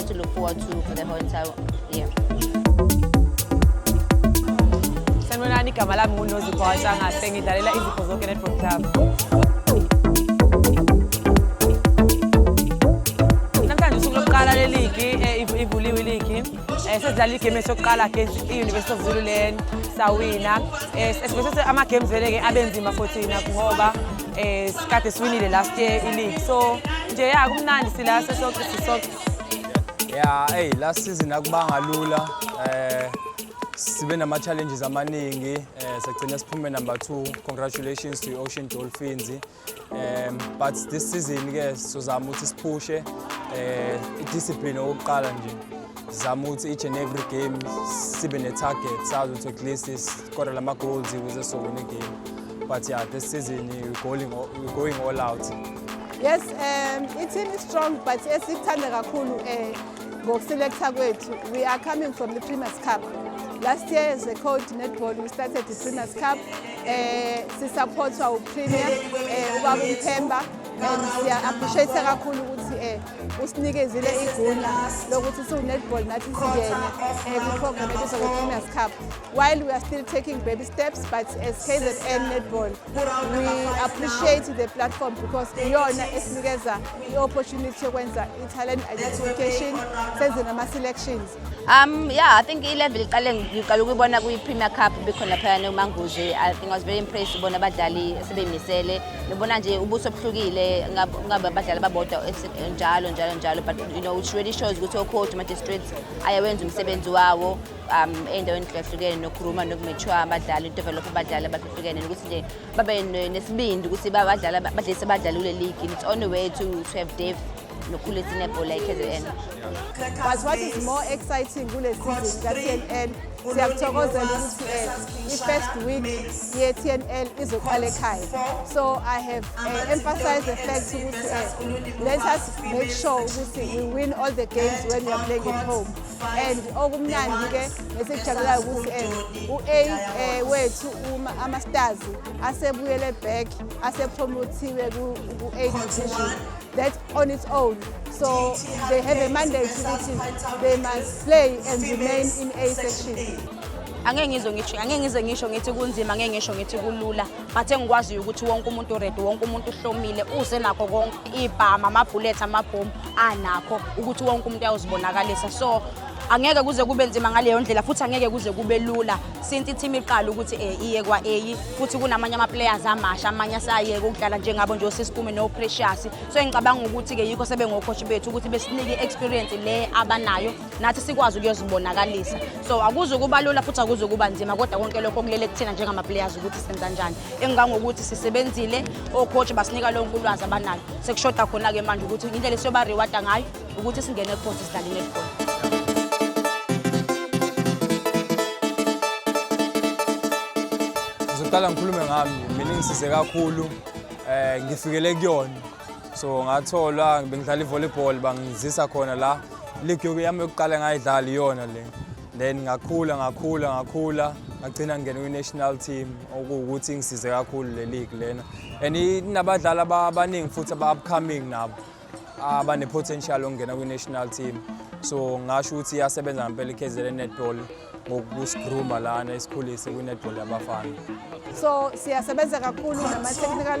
to look forward to for the whole entire year. Sanibonani, igama lami nguNozipho Hatshangase, ngidlalela izipho zonke Netball Club. Namhlanje usuku lokuqala leligi, eh, iv- ivuliwe iligi. Eh, Sesidlala igame yethu yokuqala against i-University of Zululand, sawina. Eh, Sibese ama-games vele-ke abenzima for thina ngoba eh, sikade siwinile last year iligi. So nje ya kumnandi sila sisoke sisoke. ya eyi last season akubanga lula eh sibe nama challenges amaningi eh sagcina siphume number 2 congratulations to Ocean Dolphins um but this season ke sizozama ukuthi siphushe eh discipline okuqala nje zama ukuthi each and every game sibe ne target sazi ukuthi at least score lama goals ukuze sowine game but yeah this season we going we going all out Yes, um, i-team is strong but esikuthanda kakhulu um ngokuselekta kwethu we are coming from the Primus Cup. Last year as a code netball we started the Primus Cup eh sisupportwa uPremier eh ubaba uMthemba and siya appreciate kakhulu ukuthi eh usinikezile igunda lokuthi siwu netball nathi singene eh ku program ebiza ku Premier's Cup while we are still taking baby steps but as KZN netball appreciate the platform because iyona esinikeza i-opportunity yokwenza i-talent identification senze nama-selections um yeah i think i-level iqale ngiqala ukuyibona kwi-premier cup bikhona phayana umanguzi i think i was very impressed ubona abadlali esebemisele ngibona nje ubuso obuhlukile ngabe abadlali babodwa njalo njalo njalo but you know which really shows ukuthi ocoach ma-districts ayawenza umsebenzi wawo um ey'ndaweni hlukahlukene nokuruma nokumature abadlali udevelopha abadlali abahluhlukene nokuthi nje babe nesibindi ukuthi badlali badlise abadlali kule ligi it's on the way to, to have depth nokhulu esinebhola i-kzn but what is more exciting kule season ka-tnl siyakuthokozela ukuthi um i-first week ye-tnl izoqala ekhaya so i have uh, emphasized the fact ukuthi uh, let us make sure ukuthi we win all the games when we are playing at home and okumnandi ke nesikujabulayo ukuthi eh, u-a eh, wethu ama-stars asebuyele back asepromothiwe ku-eight division that on its own so they have a mandate ukuthi they must play and remain in a section angeke ngizwe ngisho angeke ngizwe ngisho ngithi kunzima angeke ngisho ngithi kulula but engikwaziyo ukuthi wonke umuntu ready wonke umuntu uhlomile uze nakho konke ibhama amabhulethi amabhomu anakho ukuthi wonke umuntu ayozibonakalisa so angeke kuze kube nzima ngaleyo ndlela futhi angeke kuze kube lula since i-team iqala ukuthi um iye kwa-a futhi kunamanye ama-players amasha amanye asayeke ukudlala njengabo nje osisikume no-precious so engicabanga ukuthi-ke yikho sebengokhoshi bethu ukuthi besinike i-experience le abanayo nathi sikwazi ukuyozibonakalisa so akuze kuba lula futhi akuze kuba nzima kodwa konke lokho kulele kuthina njengama-players ukuthi senza njani engangokuthi sisebenzile ocoach basinika lonke ulwazi abanalo sekushoda khona-ke manje ukuthi indlela esiyoba-rewarda ngayo ukuthi singene ecourt sidlale netball ngizoqala ngikhulume ngami mina ngisize kakhulu um ngifikele kuyona so ngatholwa bengidlala i-volleyball bangizisa khona la league yami yokuqala ngayidlala iyona le then ngakhula ngakhula ngakhula ngagcina ngingena kwi-national team okuwukuthi ingisize kakhulu le league lena and inabadlali abaningi futhi aba-upcoming nabo abane-potential okungena kwi-national team so ngasho ukuthi iyasebenza ngempela ikhezele netball ngokusigruma lana isikhulise kwi-netball yabafana so siyasebenza kakhulu nama-technical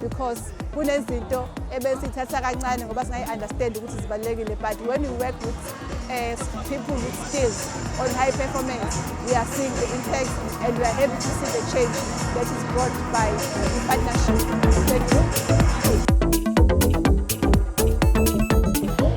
because kunezinto ebesithatha kancane ngoba singayi-understand ukuthi zibalulekile but when you work with uh, people with skills on high performance we are seeing the impact and we are happy to see the change that is brought by the partnership thank you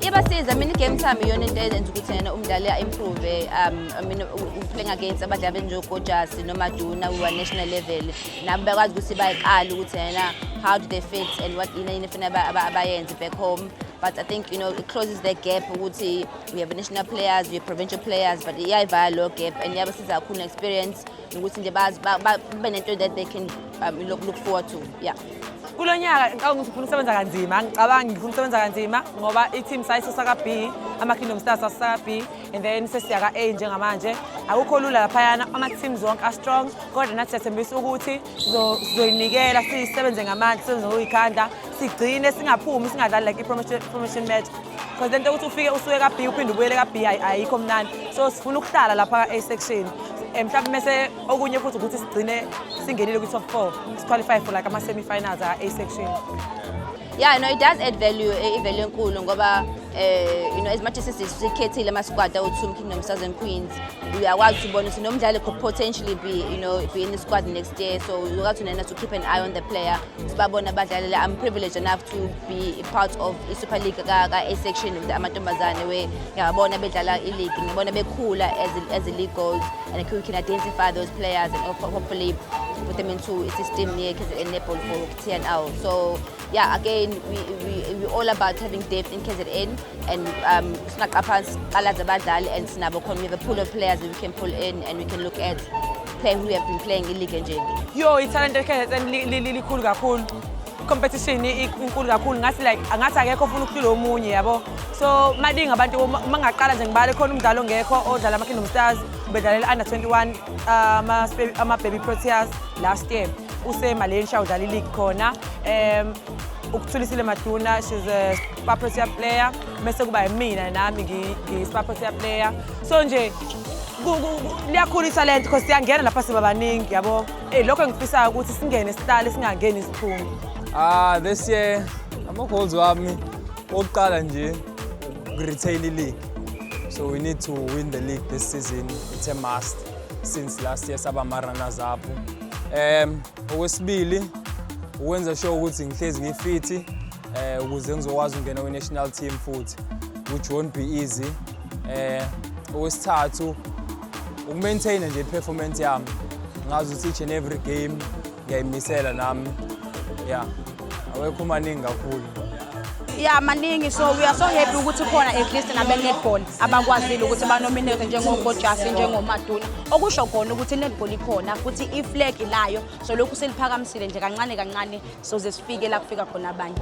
iyabasiza mina igame sami iyona into eyenza ukuthi yena umdlali a-improve um mina playing against abadlali benjengokojasi nomajuna we were national level nabo bekwazi ukuthi bayiqale ukuthi yena how do they fit and what yini yini funa abayenze back home but i think you know it closes the gap ukuthi we have national players we have provincial players but iyayivala lo gap and iyabasiza kakhulu ne-experience nokuthi nje bazi babe nento that they can um, look, look forward to yeah kulo nyaka ngicabanga ukuthi ngifuna ukusebenza kanzima ngicabanga ngifuna ukusebenza kanzima ngoba i-team sayisusa ka-b ama-kingdom stars asusa ka-b and then sesiyaka A njengamanje akukho lula laphayana ama-teams wonke a-strong kodwa nathi siyathembisa ukuthi sizoyinikela sisebenze ngamandla sisebenze ngokuyikhanda sigcine singaphumi singadlali like i-promotion match because lento ukuthi ufike usuke ka-b uphinde ubuyele ka-b ayikho mnandi so sifuna ukuhlala lapha ka-a section eh, mhlawumbe mese okunye futhi ukuthi sigcine singenile kwi-top four siqualify for like ama-semi-finals a-a section yeah no it does add value eh, i-value enkulu ngoba eh you know as much as sikhethile ama squad awu Two Kingdom Southern Queens uyakwazi ukubona ukuthi nomdlali could potentially be you know be in the squad next year so you got to nena to keep an eye on the player sibabona abadlali la I'm privileged enough to be part of i Super League ka ka A section of the amantombazane we ngiyabona bedlala i league ngibona bekhula as as a league goes and we can identify those players and hopefully put them into a system near KZN netball for TNL so Yeah, again, we, we, we all about having depth in KZN and um, singaqa phansi qala zabadlali and sinabo khona we have a pool of players that we can pull in and we can look at playing who have been playing in league nje. Yo, ithalente KZN likhulu kakhulu. competition inkulu kakhulu ngathi like angathi akekho ofuna ukuhlula omunye yabo so maningi abantu uma ngaqala nje ngibale khona umdlalo ongekho odlala ama-kingdom stars ubedlalela under 21 ama-baby proteas last year usemalensha udlala iligi khona um ukuthulisile maduna she's a spaprosia player mese kuba yimina nami ngispaprosia player so nje liyakhula ithalente because siyangena lapha siba baningi yabo eyi lokho engifisayo ukuthi singene sihlale singangeni isiphume ah this year ama-goals wami wokuqala nje ukuretail league so we need to win the league this season it's a must since last year saba ma-runners up Um okwesibili ukwenza sure ukuthi ngihlezi ngifithi um ukuze ngizokwazi ukungena kwi-national team futhi which won't be easy um okwesithathu ukumaintaina nje i-performance yami ngazi ukuthi each and every game ngiyayimisela nami ya awekho maningi kakhulu ya maningi so we are so happy ukuthi khona at least nabe-netball abakwazile ukuthi banominate njengokojasi njengomaduna okusho khona ukuthi i-netball ikhona futhi iflag ilayo so lokhu siliphakamisile nje kancane kancane soze sifike la kufika khona abanye